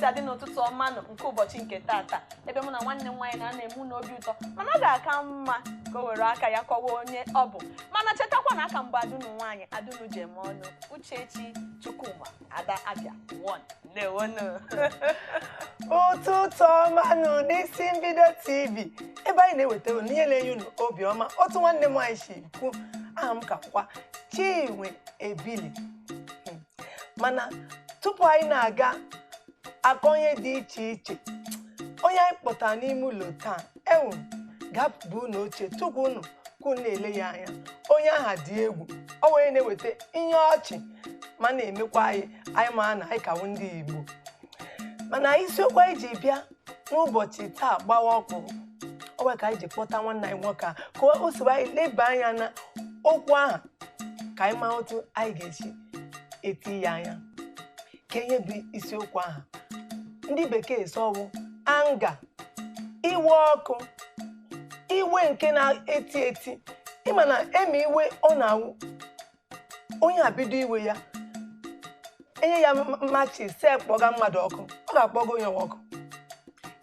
ga-adị n'ụtụtụ ọma nke ụbọchị nke tata ebe mụ na nwanne m nwaanyị na-anọ eme unu obi ụtọ mana ọ ga-aka mma ka o were aka ya kọwa onye ọ bụ mana chetakwa na a ka m bụ ada unu nwaanyị ada unu ji eme ọnụ Uchechi Chukwuma Ada Abịa one ndewonụ ụtụtụ ọma nụ n'Isi Mbido TV ebe anyị na-eweta unu ihe na-enye unu obi ọma otu nwanne m nwaanyị si kwu aha m ka kwa Chinwe Ebili Hmm. mana tupu anyị na-aga akọ ihe dị iche iche onye anyị kpọtara n'ime ụlọ taa ewu ga-apụba unu oche tupu unu ka unu na-ele ya anya onye aha dị egwu ọ wụ ya na-eweta ihe ọchị ma na-emekwa anyị ma na anyị ka wụ ndị Igbo mana isiokwu anyị ji bịa n'ụbọchị taa gbawa ọkụ ọ wụ ya ka anyị ji kpọta nwanne anyị nwoke a ka o soro anyị leba anya na okwu ahụ ka anyị ma otu anyị ga-esi etinye anya kee ihe bụ isiokwu ahụ ndị bekee sị ọ wụ anger iwe ọkụ iwe nke na-eti eti ị ma na eme iwe ọ na-awụ onye abido iwe ya e nye ya matches sị kpọga mmadụ ọkụ ọ ga-akpọga onye ahụ ọkụ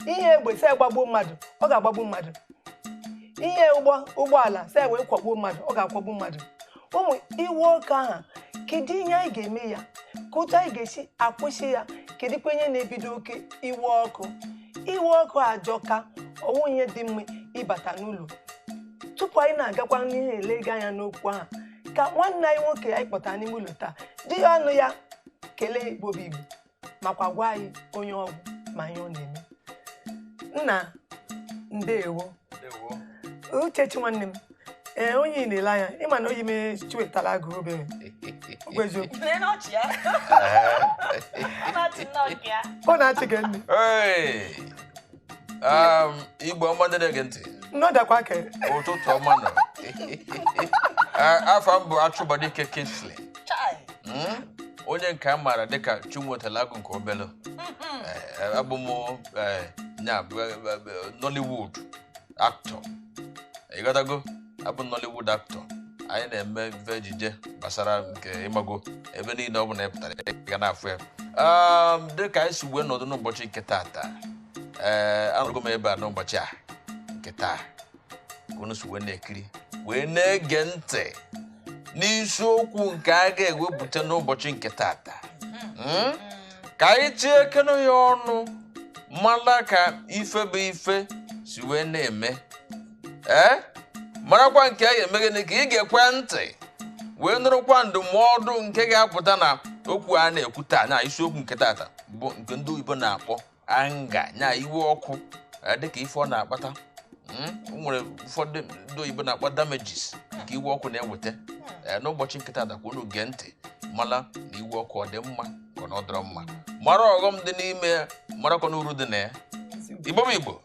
i nye egbe sị gbagbuo mmadụ ọ ga-agbagbu mmadụ i nye ụgbọala sị wee kwọgbuo mmadụ ọ ga-akwọgbu mmadụ ụmụ iwe ọkụ aha kedu ihe anyị ga-eme ya kee otu anyị ga-esi akwụsị ya kedụkwa ihe na-ebido oke iwe ọkụ iwe ọkụ ajọka ọ wụghị ihe dị mma ịbata n'ụlọ tupu anyị na-agakwa n'ihu elega anya n'okwu ahụ ka nwanne anyị nwoke anyị kpọtara n'ime ụlọ taa jiri ọnụ ya kelee Igbo bụ Igbo makwa gwa anyị onye ọ wụ ma ihe ọ na-eme nna ndewo Uchechi nwanne m ee eh, onye ị na-ele anya ị ma na oyi mee Chiwetalu Agụ obere ọ na-achị gị nne Igbo ọma ndị na-ege ntị ụtụtụ ọma nụ afa m bụ Achụbadike Kingsley hmm? onye nke a maara dịka Chiwetalu Agụ nke obele eh, abụ m eh, Nollywood actor ị ghọtago abụ Nollywood actor anyị na-eme ife ejije gbasara nke ị mago ebe niile ọ bụla ị pụtara ga na-afụ ya um, dịka anyị si wee nọdụ n'ụbọchị nke taata ee eh, anọgo m ebe a n'ụbọchị a nke taa unu si wee na-ekiri wee na-ege ntị n'isiokwu nke a ga-ewepụta n'ụbọchị nke taata hmm? ka anyị tinyekene ya ọnụ mara ka ife bụ ife si wee na-eme ee marakwa nke ya eme gịnị ka ị gekwa ntị wee nụrụkwa ndụmọdụ nke ga-apụta na okwu a na-ekwu taa na isiokwu nke tata bụ nke ndị oyibo na-akpọ anger nya iwe ọkụ eh, dịka ife ọ na-akpata hmm? nwere ụfọdụ ndị oyibo na-akpọ damages nke iwe ọkụ na-eweta eh, n'ụbọchị nke tata kwa unu gee ntị mala na iwe ọkụ ọ dị mma ka ọ dịrọ mma mara ọghọm dị n'ime ya marakwa n'uru dị na ya igbo m igbo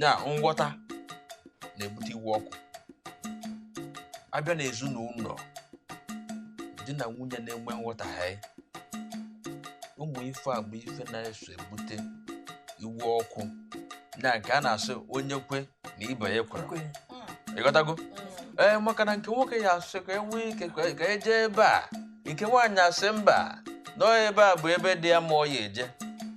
na nghọta na-ebute iwe ọkụ a bịa na ezinụlọ di na nwunye na-enwe nghọtahie ụmụ ife a bụ ife na-eso ebute iwe ọkụ na nke a na-asị onye kwe na ibe ya kwere ekwe. ịghọtago ee maka na nke nwoke ya-asị ka enwe ike ka ka e je ebe a nke nwaanyị asị mba na ọ ebe a bụ ebe dị ya mma ọ ya-eje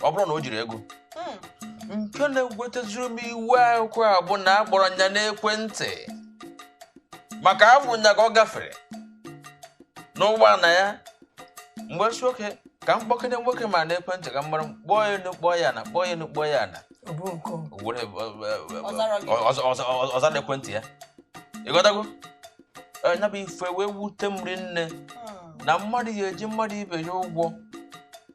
ọ bụrọ na o jirọ ego hmm. nke na-ewetazịrị m iwe ọkụ a bụ na akpọrọ nya n'ekwentị maka afụ nya ka ọ gafere n'ụgbọala ya m wee sị okay ka m kpọkene nwoke m a n'ekwentị ka m mara kpọọ ya enu kpọọ ya ana kpọọ ya enu kpọọ ya ana ọ zarọ ekwentị ya ịghọtago nya bụ ife wee wute m rinne hmm. na mmadụ ya-eji mmadụ ibe ya ụgwọ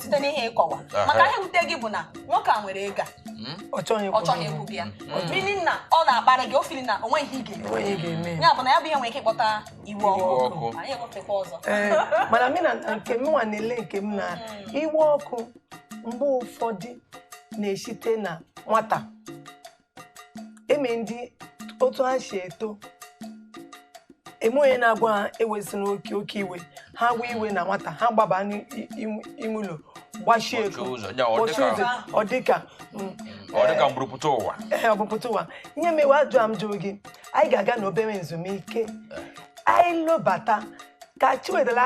site n'ihe ị kọwa Aha. maka ihe wute gị bụ na nwoke a nwere ego a, ọ chọghị ọ ịkwụ chọghị ụgwọ. ịkwụ gị ya meaning na ọ na-akparị gị ọ feel na o nweghị ihe ị ga-eme Onye ga-eme ya? ya bụ na ya bụ ihe nwere ike ịkpọta iwe Iwe ọkụ ọkụ. anyị enwefekwa ọzọ Ee, mana m na nke m nwa na-ele nke m na iwe ọkụ mgbe ụfọdụ na-esite na nwata e nwe ndị otu ha si eto enwe onye na-agwa ha ewezina oke iwe ha wee iwe na nwata ha gbaba n'ime ụlọ gbachie ego Kpọchie ụzọ, ya, ọ kpọchie dịka- ụzọ, ọ dịka mm, ọ dị ka mburu pụta ụwa ee, obu pụta ụwa ihe mewe ajụ a m jụrụ gị anyị ga-aga n'obere ezumike anyị lobata ka chiwedela